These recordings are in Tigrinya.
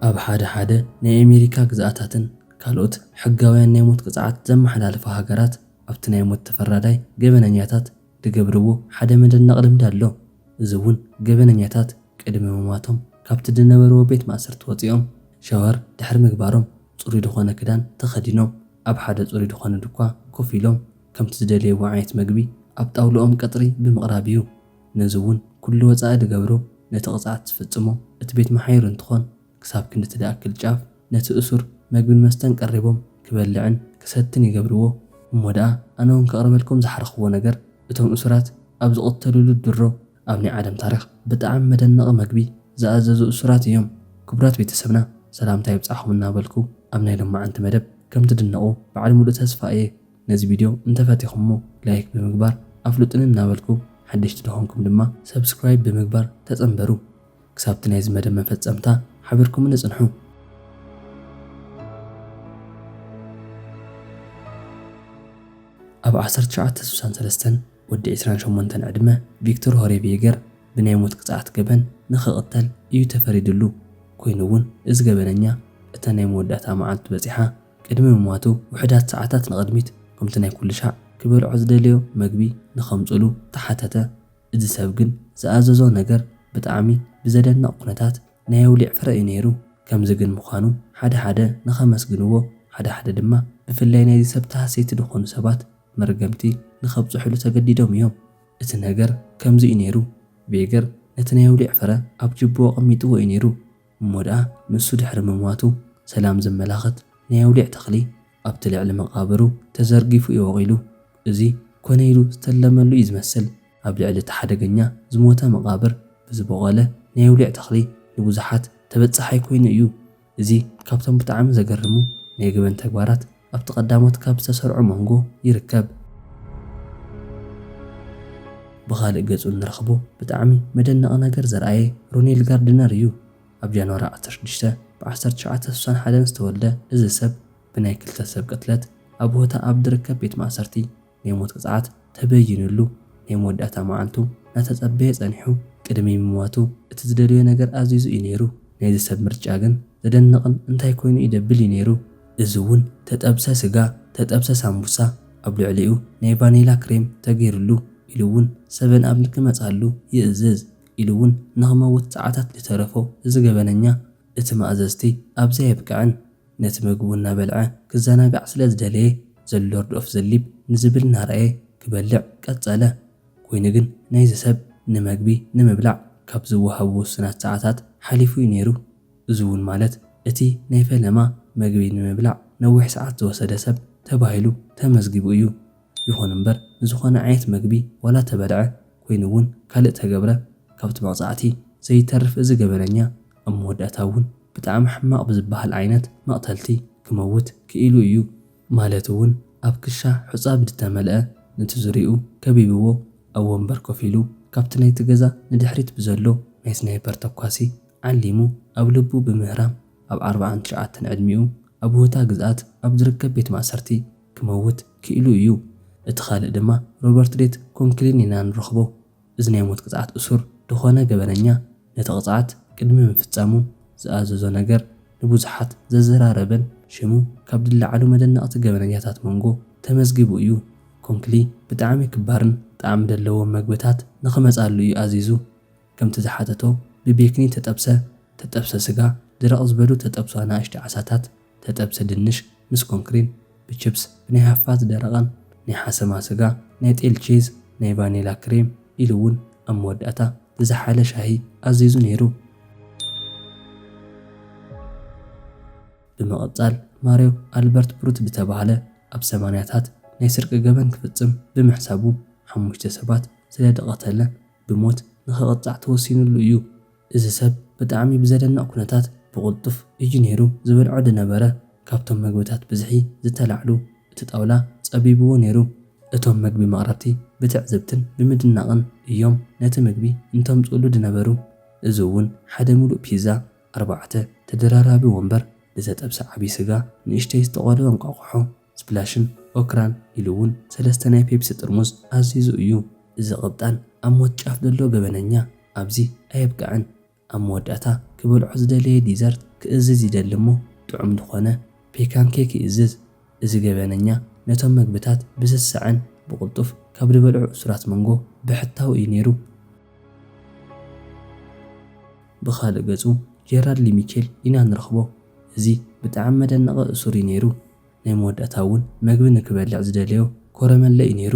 ኣብ ሓደ ሓደ ናይ ኣሜሪካ ግዝኣታትን ካልኦት ሕጋውያን ናይ ሞት ቅፅዓት ዘመሓላልፋ ሃገራት ኣብቲ ናይ ሞት ተፈራዳይ ገበነኛታት ድገብርዎ ሓደ መደነቂ ልምዲ ኣሎ። እዚ ውን ገበነኛታት ቅድሚ ምሟቶም ካብቲ ድነበርዎ ቤት ማእሰርቲ ወፂኦም ሻወር ድሕሪ ምግባሮም ፅሩይ ድኾነ ክዳን ተኸዲኖም ኣብ ሓደ ፅሩይ ድኾነ ድኳ ኮፍ ኢሎም ከምቲ ዝደለይዎ ዓይነት ምግቢ ኣብ ጣውልኦም ቀፅሪ ብምቕራብ ዩ። ነዚ እውን ኩሉ ወፃኢ ዝገብሮ ነቲ ቅፅዓት ዝፍፅሞ እቲ ቤት መሓዩር እንትኾን ክሳብ ክንዲ እቲ ዝኣክል ጫፍ ነቲ እሱር መግብን መስተን ቀሪቦም ክበልዕን ክሰትን ይገብርዎ። እሞ ደኣ ኣነ እውን ከቕርበልኩም ዝሓረኽዎ ነገር እቶም እሱራት ኣብ ዝቕተልሉ ድሮ ኣብ ናይ ዓለም ታሪኽ ብጣዕሚ መደነቒ መግቢ ዝኣዘዙ እሱራት እዮም። ክቡራት ቤተሰብና ሰላምታ ይብፃሕኹም እናበልኩ ኣብ ናይ ሎማዓንቲ መደብ ከምትድነቑ ባዓል ሙሉእ ተስፋ እየ። ነዚ ቪድዮ እንተፈቲኹሞ ላይክ ብምግባር ኣፍሉጡኒ እናበልኩ ሓደሽቲ ድኾንኩም ድማ ሰብስክራይብ ብምግባር ተጸንበሩ። ክሳብቲ ናይዚ መደብ መፈጸምታ ሓቢርኩምኒ ጽንሑ። ኣብ ዓሰርተ ትሽዓተ ስሳን ሰለስተን ወዲ ዕስራን ሸሞንተን ዕድመ ቪክቶር ሆሬቭየገር ብናይ ሞት ቅጽዓት ገበን ንኽቕተል እዩ ተፈሪድሉ። ኮይኑ'ውን እዚ ገበነኛ እታ ናይ መወዳእታ መዓልቱ በጺሓ። ቅድሚ ምሟቱ ውሑዳት ሰዓታት ንቕድሚት፣ ከምቲ ናይ ኩሉ ሻዕ፣ ክበልዖ ዝደለዮ መግቢ ንኸምጽእሉ ተሓተተ። እዚ ሰብ ግን ዝኣዘዞ ነገር ብጣዕሚ ብዘደንቕ ኩነታት ናይ ኣውሊዕ ፍረ እዩ ነይሩ። ከምዚ ግን ምዃኑ ሓደ ሓደ ንኸመስግንዎ፣ ሓደ ሓደ ድማ ብፍላይ ናይዚ ሰብ ተሃሰይቲ ዝኾኑ ሰባት መርገምቲ ንኸብጽሑሉ ተገዲዶም እዮም። እቲ ነገር ከምዚ እዩ ነይሩ፣ ቬገር ነቲ ናይ ኣውሊዕ ፍረ ኣብ ጅቡኡ ኣቐሚጥዎ እዩ ነይሩ። እሞ ደኣ ንሱ ድሕሪ ምሟቱ ሰላም ዘመላኽት ናይ ኣውሊዕ ተኽሊ ኣብቲ ልዕሊ መቓብሩ ተዘርጊፉ እዩ ወቒሉ። እዚ ኮነ ኢሉ ዝተለመሉ እዩ ዝመስል። ኣብ ልዕሊ እቲ ሓደገኛ ዝሞተ መቓብር ብዝቦቖለ ናይ ኣውሊዕ ተኽሊ ንብዙሓት ተበጻሓይ ኮይኑ እዩ። እዚ ካብቶም ብጣዕሚ ዘገርሙ ናይ ገበን ተግባራት ኣብቲ ቀዳሞት ካብ ዝተሰርዑ ሞንጎ ይርከብ። ብኻልእ ገጹ እንረኽቦ ብጣዕሚ መደነቒ ነገር ዘርኣየ ሮኔል ጋርድነር እዩ። ኣብ ጃንዋሪ ዓሰርተ ሽዱሽተ ብ ዓሰርተ ትሽዓተ ስሳን ሓደን ዝተወልደ እዚ ሰብ ብናይ ክልተ ሰብ ቅትለት ኣብ ሆታ ኣብ ድርከብ ቤት ማእሰርቲ ናይ ሞት ቅጽዓት ተበይንሉ ናይ መወዳእታ መዓልቱ ናተጸበየ ጸኒሑ ቅድሚ ምሟቱ እቲ ዝደለዮ ነገር ኣዚዙ እዩ ነይሩ ናይዚ ሰብ ምርጫ ግን ዘደንቕን እንታይ ኮይኑ እዩ ደብል እዩ ነይሩ እዚ ውን ተጠብሰ ስጋ ተጠብሰ ሳምቡሳ ኣብ ልዕሊኡ ናይ ቫኔላ ክሬም ተገይርሉ ኢሉ ውን ሰቨን ኣብ ንክመጻሉ ይእዝዝ ኢሉ ውን ንክመውት ጽዓታት ልተረፎ እዚ ገበነኛ እቲ መኣዘዝቲ ኣብዚ ኣየብቅዕን ነቲ መግቡ እናበልዐ ክዘናጋዕ ስለ ዝደለየ The Lord of the Leap ንዝብል እናረኣየ ክበልዕ ቀጸለ። ኰይኑ ግን ናይዚ ሰብ ንመግቢ ንምብላዕ ካብ ዝወሃቡ ውሱናት ሰዓታት ሓሊፉ እዩ ነይሩ። እዚ እውን ማለት እቲ ናይ ፈለማ መግቢ ንምብላዕ ነዊሕ ሰዓት ዝወሰደ ሰብ ተባሂሉ ተመዝጊቡ እዩ። ይኹን እምበር ንዝኾነ ዓይነት መግቢ ዋላ ተበልዐ ኮይኑ እውን ካልእ ተገብረ ካብቲ መቕጻዕቲ ዘይተርፍ እዚ ገበነኛ ኣብ መወዳእታ እውን ብጣዕሚ ሕማቕ ብዝበሃል ዓይነት መቕተልቲ ክመውት ክኢሉ እዩ። ማለት እውን ኣብ ክሻ ሑጻ ብድተመልአ ነቲ ዙርይኡ ከቢብዎ ኣብ ወንበር ኮፍ ኢሉ ካብቲ ናይቲ ገዛ ንድሕሪት ብዘሎ ናይ ስናይፐር ተኳሲ ዓሊሙ ኣብ ልቡ ብምህራም ኣብ ዓርብዓን ትሽዓተን ዕድሚኡ ኣብ ውህታ ግዝኣት ኣብ ዝርከብ ቤት ማእሰርቲ ክመውት ክኢሉ እዩ። እቲ ካልእ ድማ ሮበርት ዴት ኮንክሊን ኢና ንረኽቦ። እዚ ናይ ሞት ቅጽዓት እሱር ድኾነ ገበነኛ ነቲ ቅጽዓት ቅድሚ ምፍጻሙ ዝኣዘዞ ነገር ንብዙሓት ዘዘራረበን፣ ሽሙ ካብ ድለዓሉ መደነቕቲ ገበነኛታት መንጎ ተመዝጊቡ እዩ። ኮንክሊ ብጣዕሚ ክባርን ጣዕሚ ደለዎም መግብታት ንኽመጻሉ እዩ ኣዚዙ። ከምቲ ዝሓተቶ ብቤክኒ ተጠብሰ ተጠብሰ ስጋ፣ ድርቕ ዝበሉ ተጠብሱ ኣናእሽቲ ዓሳታት፣ ተጠብሰ ድንሽ ምስ ኮንክሪን፣ ብችፕስ፣ ብናይ ሃፋ ዝደረቐን ናይ ሓሰማ ስጋ፣ ናይ ጤል ቺዝ፣ ናይ ቫኒላ ክሬም ኢሉ እውን ኣብ መወዳእታ ዝዘሓለ ሻሂ ኣዚዙ ነይሩ። ብምቕጻል ማርዮ ኣልበርት ብሩት ዝተባህለ ኣብ ሰማንያታት ናይ ስርቂ ገበን ክፍጽም ብምሕሳቡ ሓሙሽተ ሰባት ስለደቐተለ ብሞት ንኽቕጻዕ ተወሲንሉ እዩ። እዚ ሰብ ብጣዕሚ ብዘደንቕ ኩነታት ብቕልጡፍ እዩ ነይሩ ዝበልዖ ድነበረ። ካብቶም መግብታት ብዝሒ ዝተላዕሉ እቲ ጣውላ ጸቢብዎ ነይሩ። እቶም መግቢ መቕረብቲ ብትዕዝብትን ብምድናቕን እዮም ነቲ ምግቢ እንተምጽኡሉ ድነበሩ። እዚ እውን ሓደ ምሉእ ፒዛ፣ ኣርባዕተ ተደራራቢ ወንበር፣ ዝተጠብሰ ዓቢ ስጋ፣ ንእሽተይ ዝተቖለወ እንቋቑሖ፣ ስፕላሽን ኦክራን ኢሉ እውን ሰለስተ ናይ ፔፕሲ ጥርሙዝ ኣዚዙ እዩ። እዚ ቅብጣን ኣብ ሞት ጫፍ ዘሎ ገበነኛ ኣብዚ ኣየብቅዐን። ኣብ መወዳእታ ክበልዖ ዝደለየ ዲዘርት ክእዝዝ ይደሊ እሞ ጥዑም ዝኾነ ፔካን ኬክ ይእዝዝ። እዚ ገበነኛ ነቶም መግብታት ብስሰዐን ብቕልጡፍ ካብ ድበልዑ እሱራት መንጎ ብሕታዊ እዩ ነይሩ። ብኻልእ ገጹ ጀራድ ሊ ሚቼል ኢና ንረኽቦ እዚ ብጣዕሚ መደነቒ እሱር እዩ ነይሩ ናይ መወዳእታ እውን መግቢ ንክበልዕ ዝደለዮ ኮረመለ እዩ ነይሩ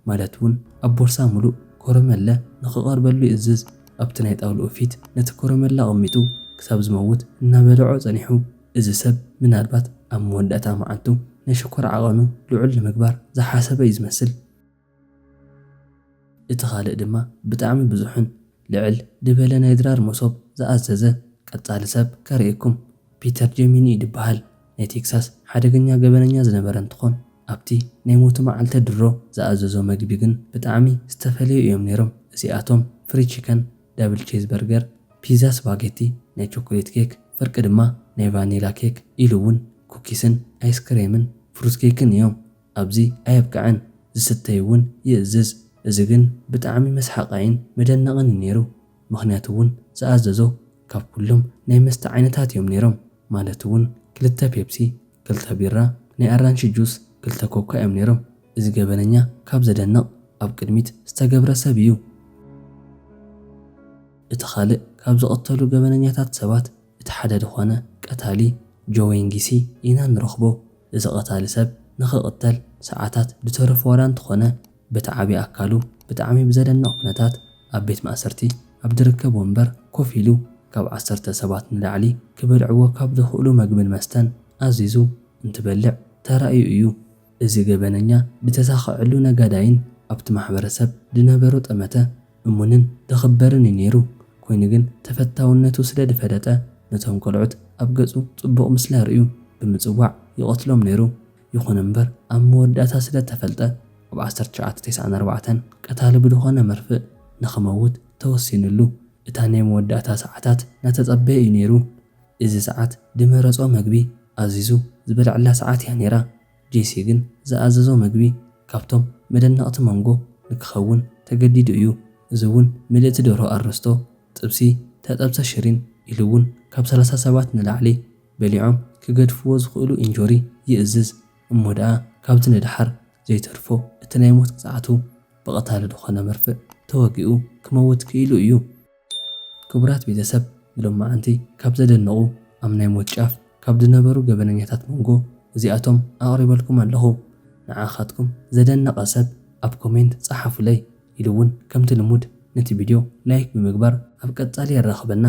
ማለት እውን ኣብ ቦርሳ ሙሉእ ኮረመለ ንክቐርበሉ ይእዝዝ ኣብቲ ናይ ጣውልኡ ፊት ነቲ ኮረመለ ኣቐሚጡ ክሳብ ዝመውት እናበለዖ ጸኒሑ እዚ ሰብ ምናልባት ኣብ መወዳእታ መዓልቱ ናይ ሽኮር ዓቐኑ ልዑል ንምግባር ዝሓሰበ እዩ ዝመስል። እቲ ካልእ ድማ ብጣዕሚ ብዙሕን ልዕል ድበለ ናይ ድራር መሶብ ዝኣዘዘ ቀጻሊ ሰብ ከርእየኩም ፒተር ጀሚኒ እዩ ድበሃል ናይ ቴክሳስ ሓደገኛ ገበነኛ ዝነበረ እንትኾን ኣብቲ ናይ ሞቱ መዓልተ ድሮ ዝኣዘዞ መግቢ ግን ብጣዕሚ ዝተፈለዩ እዮም ነይሮም እዚኣቶም ፍሪ ቺከን ዳብል ቼዝ በርገር ፒዛ ስፓጌቲ ናይ ቾኮሌት ኬክ ፍርቂ ድማ ናይ ቫኒላ ኬክ ኢሉ እውን ኩኪስን ኣይስክሬምን ፍሩት ኬክን እዮም ኣብዚ ኣየብቀዐን ዝስተይ ውን ይእዝዝ እዚ ግን ብጣዕሚ መስሓቃይን መደነቅን ዩ ነይሩ ምክንያቱ ውን ዝኣዘዞ ካብ ኩሎም ናይ መስተ ዓይነታት ዮም ነይሮም ማለት ውን ክልተ ፔፕሲ ክልተ ቢራ ናይ ኣራንሺ ጁስ ክልተ ኮካ ዮም ነይሮም እዚ ገበነኛ ካብ ዘደንቅ ኣብ ቅድሚት ዝተገብረ ሰብ ዩ እቲ ካልእ ካብ ዝቅተሉ ገበነኛታት ሰባት እቲ ሓደ ድኾነ ቀታሊ ጆዌንጊሲ ኢና ንረኽቦ። እዚ ቀታሊ ሰብ ንኽቕተል ሰዓታት ድተረፎ ዋላ እንተኾነ በቲ ዓቢ ኣካሉ ብጣዕሚ ብዘደንቕ ኩነታት ኣብ ቤት ማእሰርቲ ኣብ ድርከብ ወንበር ኮፍ ኢሉ ካብ ዓሰርተ ሰባት ንላዕሊ ክበልዕዎ ካብ ድኽእሉ መግብን መስተን ኣዚዙ እንትበልዕ ተራእዩ እዩ። እዚ ገበነኛ ድተሳኸዐሉ ነጋዳይን ኣብቲ ማሕበረሰብ ድነበሮ ጠመተ እሙንን ተኸበርን እዩ ነይሩ፣ ኮይኑ ግን ተፈታውነቱ ስለ ድፈለጠ ነቶም ቆልዑት ኣብ ገጹ ጽቡቕ ምስሊ ኣርእዩ ብምጽዋዕ ይቐትሎም ነይሩ፣ ይኹን እምበር ኣብ መወዳእታ ስለ እተፈልጠ ኣብ ዓሰርተ ትሽዓተ ተስዓን ኣርባዕተን ቀታሊ ብድኾነ መርፍእ ንኽመውት ተወሲንሉ፣ እታ ናይ መወዳእታ ሰዓታት ናተጸበየ እዩ ነይሩ፣ እዚ ሰዓት ድመረጾ መግቢ ኣዚዙ ዝበልዕላ ሰዓት እያ ነይራ። ጄሲ ግን ዝኣዘዞ መግቢ ካብቶም መደነቕቲ መንጎ ንክኸውን ተገዲዱ እዩ፣ እዚ እውን ምልእቲ ደርሆ ኣረስቶ፣ ጥብሲ፣ ተጠብሰ ሽሪን ኢሉ እውን ካብ ሰላሳ ሰባት ንላዕሊ በሊዖም ክገድፍዎ ዝኽእሉ ኢንጆሪ ይእዝዝ፣ እሞ ደኣ ካብዚ ንደሓር ዘይተርፎ እቲ ናይ ሞት ቅፅዓቱ ብቐታሊ ድኾነ መርፍእ ተወጊኡ ክመውት ክኢሉ እዩ። ክቡራት ቤተሰብ ብሎማዓንቲ ካብ ዘደንቑ ኣብ ናይ ሞት ጫፍ ካብ ድነበሩ ገበነኛታት ሞንጎ እዚኣቶም ኣቕሪበልኩም ኣለኹ ንዓኻትኩም ዘደነቐ ሰብ ኣብ ኮሜንት ጸሓፉለይ ኢሉ ውን ከምቲ ልሙድ ነቲ ቢድዮ ላይክ ብምግባር ኣብ ቀጻሊ የራኽበና።